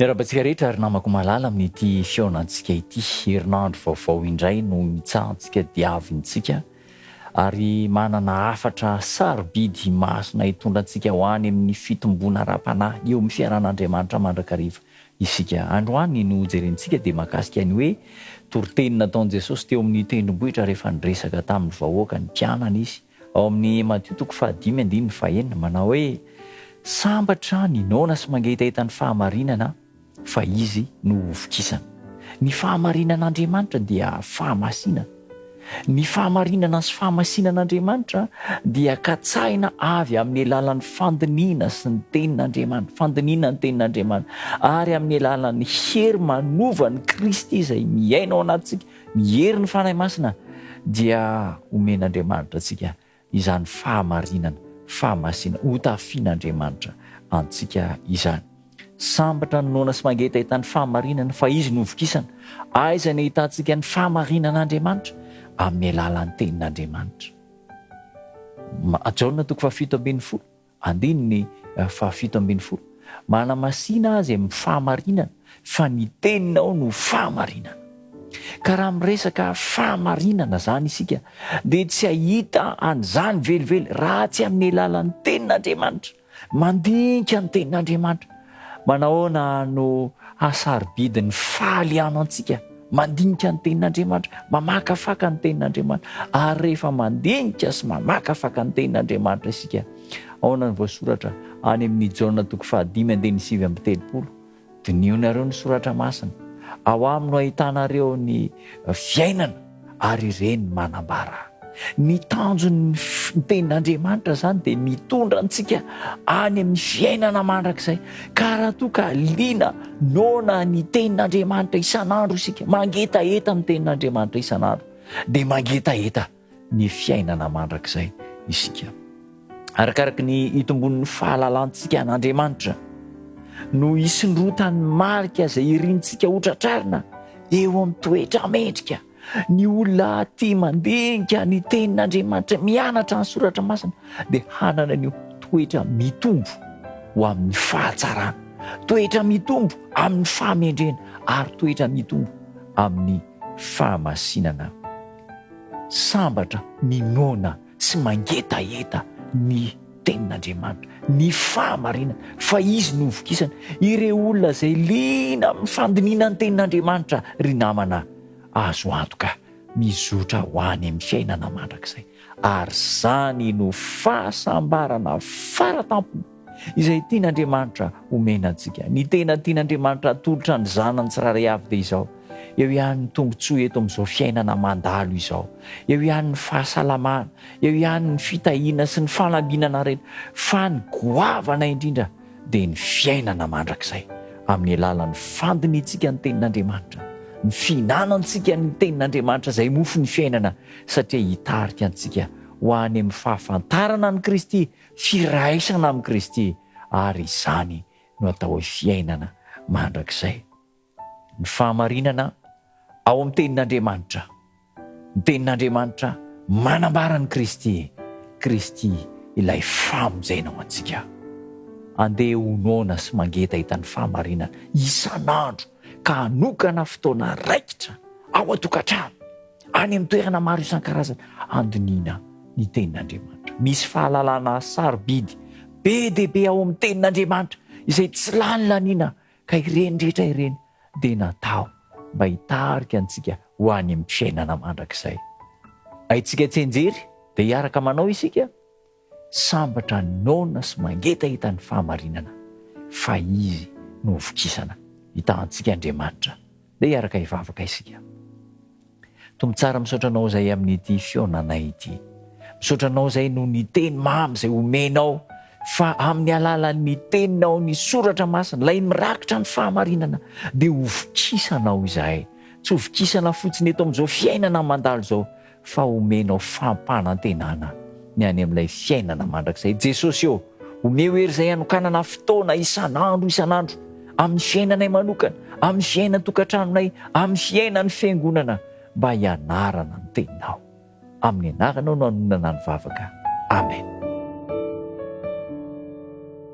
Miarahaba antsika rehetra ry namako malala amin'ity fihaonantsika ity. Herinandro vaovao indray no imitsahantsika diavintsika ary manana hafatra sarobidy masina hitondra antsika ho any amin'ny fitomboana ara-panahy eo amin'ny fiaran'Andriamanitra mandrakariva isika. Androany no hojerentsika dia mahakasika ny hoe toriteny nataon'i Jesosy teo amin'ny tendrombohitra rehefa niresaka tamin'ny vahoaka ny mpianany izy Ao amin'ny Matio toko fahadimy andininy fahenina, manao hoe, Sambatra ny noana sy mangetaheta ny fahamarinana, fa izy no hovokisana. Ny fahamarinan'Andriamanitra dia fahamasinana. Ny fahamarinana sy fahamasinan'Andriamanitra dia katsahina avy amin'ny alalan'ny fandinihina sy ny Tenin'Andriamanitra, fandinihina ny Tenin'Andriamanitra, ary amin'ny alalan'ny hery manovan'i Kristy izay miaina ao anatintsika Ny herin'ny Fanahy Masina dia omen'Andriamanitra antsika izany fahamarinana, fahamasinana, hotafian'Andriamanitra antsika izany. Sambatra ny noana sy mangetaheta ny fahamarinana fa Izy no hovokisana. Aiza no ahitantsika ny fahamarinan'Andriamanitra? Amin'ny alalan'ny Tenin'Andriamanitra. Jaona toko fahafito ambin'ny folo. Andininy fahafito ambin'ny folo, Manamasina azy amin'ny fahamarinana, fa ny teninao no fahamarinana. Ka raha miresaka fahamarinana izany isika, dia tsy hahita an'izany velively raha tsy amin'ny alalan'ny Tenin'Andriamanitra. Mandinika ny Tenin'Andriamanitra Manahoana no hasarobidin'ny fahalianao antsika mandinika ny Tenin'Andriamanitra, mamakafaka ny Tenin'Andriamanitra? Ary rehefa mandinika sy mamakafaka ny Tenin'Andriamanitra isika, ahoana no voasoratra any amin'ny Jaona toko fahadimy andininy sivy amby telopolo? Dinihonareo ny Soratra Masina. Ao aminy no ahitanareo ny fiainana. Ary ireny manambara ny tanjon'ny tenin'Andriamanitra izany dia mitondra antsika any amin'ny fiainana mandrakizay. Ka raha toa ka liana noana ny tenin'Andriamanitra isan'andro isika, mangetaheta ny tenin'Andriamanitra isan'andro, dia mangetaheta ny fiainana mandrakizay isika. arakaraky ny itombon'ny fahalalantsika an'Andriamanitra no hisondrotan'ny marika izay irintsika ho tratrarina eo amin'ny toetra mendrika ny olona aty mandinika ny tenin'Andriamanitra mianatra ny soratra masina dia hanana an'io toetra mitombo ho amin'ny fahatsarana toetra mitombo amin'ny fahamendrena ary toetra mitombo amin'ny fahamasinana sambatra ny nona tsy mangetaheta ny tenin'Andriamanitra, ny fahamarinana, fa izy no hovokisana. Ireo olona izay liana amin'ny fandinihana ny tenin'Andriamanitra, ry namana, azo antoka mizotra ho any amin'ny fiainana mandrakizay. Ary izany no fahasambarana fara tampony. Izay tian'Andriamanitra homena antsika. Ny tena tian'Andriamanitra hatolotra ny zanany tsirairay avy dia izao, eo ihany ny tombontsoa eto amin'izao fiainana mandalo izao, eo ihany ny fahasalamana, eo ihany ny fitahiana sy ny fanambinana rehetra, fa ny goavana indrindra dia ny fiainana mandrakizay amin'ny alalan'ny fandinihantsika ny tenin'Andriamanitra, ny fihinanantsika ny tenin'Andriamanitra izay mofon'ny fiainana satria hitarika antsika ho any amin'ny fahafantarana an'i Kristy Firaisana amin'i Kristy ary izany no atao hoe fiainana mandrakizay. Ny fahamarinana ao amin'ny Tenin'Andriamanitra. Ny Tenin'Andriamanitra manambara an'i Kristy, Kristy ilay famonjena ho antsika. Andeha ho noana sy mangetaheta ny fahamarinana isan'andro ka hanokana fotoana raikitra ao an-tokantrano. Any amin'ny toerana maro isan-karazany handinihina ny tenin'Andriamanitra. Misy fahalalana sarobidy be dia be ao amin'ny tenin'Andriamanitra izay tsy lany laniana ka ireny rehetra ireny dia natao mba hitarika antsika ho any amin'ny fiainana mandrakizay. Haintsika tsianjery dia hiaraka manao isika. Sambatra noana sy mangetaheta ny fahamarinana fa Izy no hovokisana. Hitahantsika Andriamanitra. Dia hiaraka hivavaka isika. Tompo tsara misaotra Anao izay amin'ity fihaonanay ity. Misaotra Anao izay noho ny Teny mamy izay omenao fa amin'ny alalan'ny Teninao, ny Soratra Masina, ilay mirakitra ny fahamarinana dia hovokisanao izahay. Tsy hovokisana fotsiny eto amin'izao fiainana mandalo izao fa omenao fampanantenana ny any amin'ilay fiainana mandrakizay. Jesosy ô, omeo hery izay hanokanana fotoana isan'andro isan'andro amin'ny fiainanay manokana, amin'ny fiainan-tokantranonay, amin'ny fiainan'ny Fiangonana mba hianarana ny Teninao. Amin'ny anaranao no anonana ny vavaka. Amen.